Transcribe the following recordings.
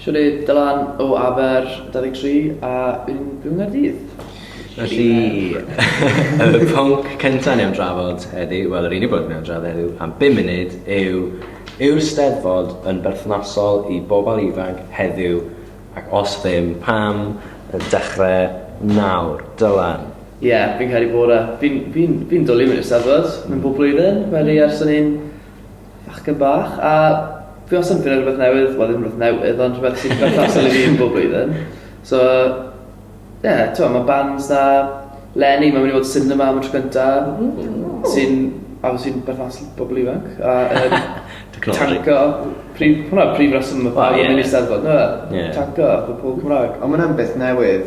Siwrne Dylan o Aber 23 a un yng Nghaerdydd. Felly, y pwnc cyntaf ni am drafod heddi, wel yr unig bwnc ni am drafod heddi am 5 munud yw yw'r Steddfod yn berthnasol i bobl ifanc heddiw ac os ddim, pam y dechrau nawr? Dylan? Ie, yeah, fi'n cael ei bod e. Fi'n fi fi dwlu mynd i'r Steddfod, mynd bob blwyddyn, wedi ers o'n i'n Bachgen bach, a fi wastad yn ffindo rhywbeth newydd, wel ddim rhywbeth newydd, ond rhywbeth sy'n berthnasol i fi yn bob blwyddyn. So, ie, yeah, ti'n mae bands da, Lenny, mae'n mynd i fod cinema am y tro cynta, sy'n, a sy'n berthnasol i bobl ifanc, a um, tanco, prif, hwnna prif reswm y pawb yn mynd i steddfod, no, tanco, pobl Cymraeg. Ond mae'n beth newydd,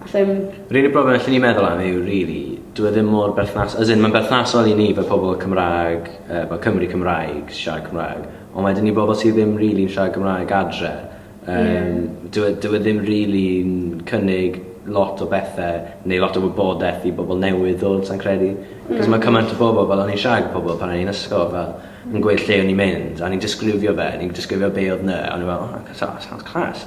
Allai ddim... Yr unig broblem allwn i meddwl am yw rili, dyw e ddim mor berthnas... As in, mae'n berthnasol i ni fel pobl Cymraeg, uh, fel Cymry Cymraeg, siarad Cymraeg, ond wedyn i bobl sydd ddim rili'n really siarad Cymraeg adre, um, yeah. dyw, e, dyw e ddim rili'n really cynnig lot o bethau neu lot o wybodaeth i bobl newydd ddod, sa'n credu. Mm. Cos mae cymaint o bobl, fel o'n i'n siarad gyda pobl pan o'n i'n ysgol, fel, yn gweud lle o'n i'n mynd, a ni'n disgrifio fe, ni'n disgrifio be oedd na, a o'n i'n fel, oh, that sounds class.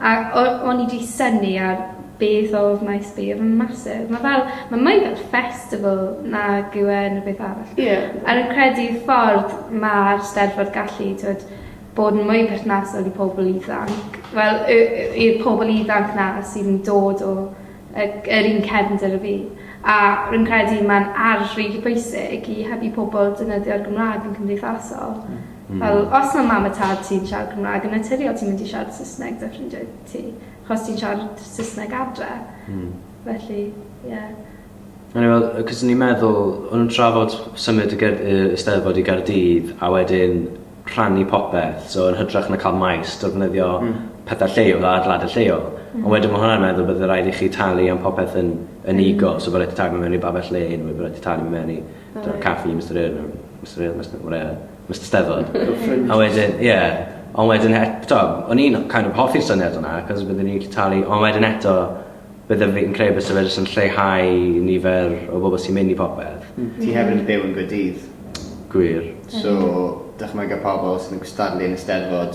A o- o'n i 'di synnu ar beth o wnaeth sbio fy massive. Ma' fel ma' mwy fel festival nag yw e unrhyw beth arall. Ie. A rwy'n credu y ffordd ma'r Steddfod gallu t'wod bod yn mwy perthnasol i pobol ifanc wel y- y- i'r pobol ifanc 'na sydd yn dod o y c- yr un cefndir â fi a rwy'n credu ma'n arf rili bwysig i helpu pobol defnyddio'r Gymra'g yn cymdeithasol. Hmm. Mm. Fel, os mae mam a tad ti'n siarad Cymraeg yn naturiol, ti'n mynd i siarad Saesneg da ffrindiau ti. Chos ti'n siarad Saesneg adre. Mm. Felly, ie. Yeah. O'n i'n meddwl, cos ni'n meddwl, o'n i'n trafod symud y Eisteddfod i Gardydd a wedyn rhannu popeth, so yn hydrach na cael maes, defnyddio mm. pethau lleol a adlad y lleol. Mm. Ond wedyn mae hwnna'n meddwl bod rhaid i chi talu am popeth yn, yn mm. ego, so bod rhaid i talu mewn i babell le, neu bod rhaid i talu mewn i Dy'r caffi, Mister Urn, Mister Urn, Mister Morea, Mister Steddfod. a wedyn, ie. Yeah. Ond wedyn, eto, o'n i'n kind of hoffi'r syniad yna, cos byddwn ni'n talu, ond wedyn eto, byddwn fi'n credu bys y fedrys yn lleihau nifer o bobl sy'n mynd i popeth. Mm. Ti hefyd yn byw yn Gwydydd. Gwir. So, dychmyga pobl sy'n gystadlu yn y Steddfod,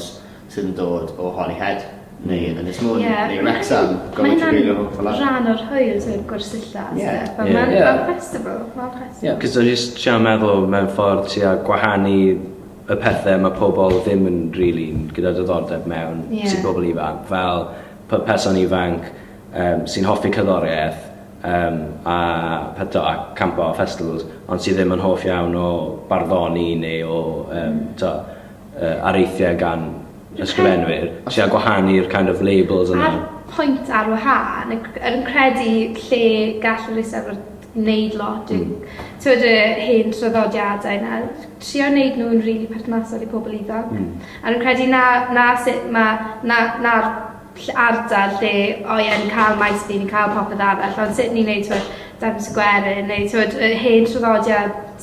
sydd yn dod o Holyhead neu Ynys Môn yeah, neu Wrexham, Gofod Tregeilio, hope for that. Rhan o'r hwyl sy'n gwersylla. Yeah. But yeah. Mae'n yeah. festival. Mae'n festival. Yeah, cos o'n just siarad meddwl mewn ffordd ti a gwahanu y pethau mae pobl ddim yn really gyda diddordeb mewn yeah. sy'n pobl ifanc. Fel pa person ifanc um, sy'n hoffi cyddoriaeth um, a peto a campo a festivals, ond sydd ddim yn hoff iawn o barddoni neu o um, to, uh, areithiau gan ysgrifenwyr sy'n a gwahanu'r kind of labels yna. A'r pwynt ar wahân, yn credu lle gall yr Eisteddfod wneud lot, mm. tywed y hen traddodiadau yna, trio wneud nhw'n rili really perthnasol i pobl ifanc. Mm. A rwy'n credu na, na sut mae, na, na ardal lle o ie, ni'n cael maes fi, ni'n cael popeth arall, ond sut ni'n gwneud tywed, Dafn Sgwerin, neu tywed, y hen traddodiad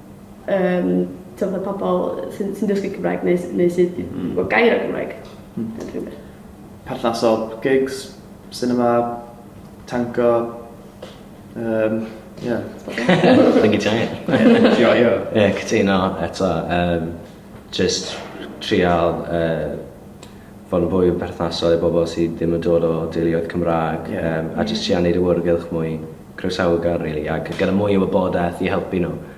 um, tywed y pobl sy'n sy dysgu Cymraeg neu, neu sydd mm. o gair o Gymraeg. Mm. Perthnasol, gigs, cinema, tango, um, yeah. Think it's giant. Yeah, yeah. Yeah, cytuno eto. Um, just trial uh, fod yn fwy o berthnasol i bobl sydd ddim yn dod o deuluoedd Cymraeg yeah. um, a jyst trio wneud y wrgylch mwy croesawu gan, really, ac gyda mwy o wybodaeth i helpu nhw.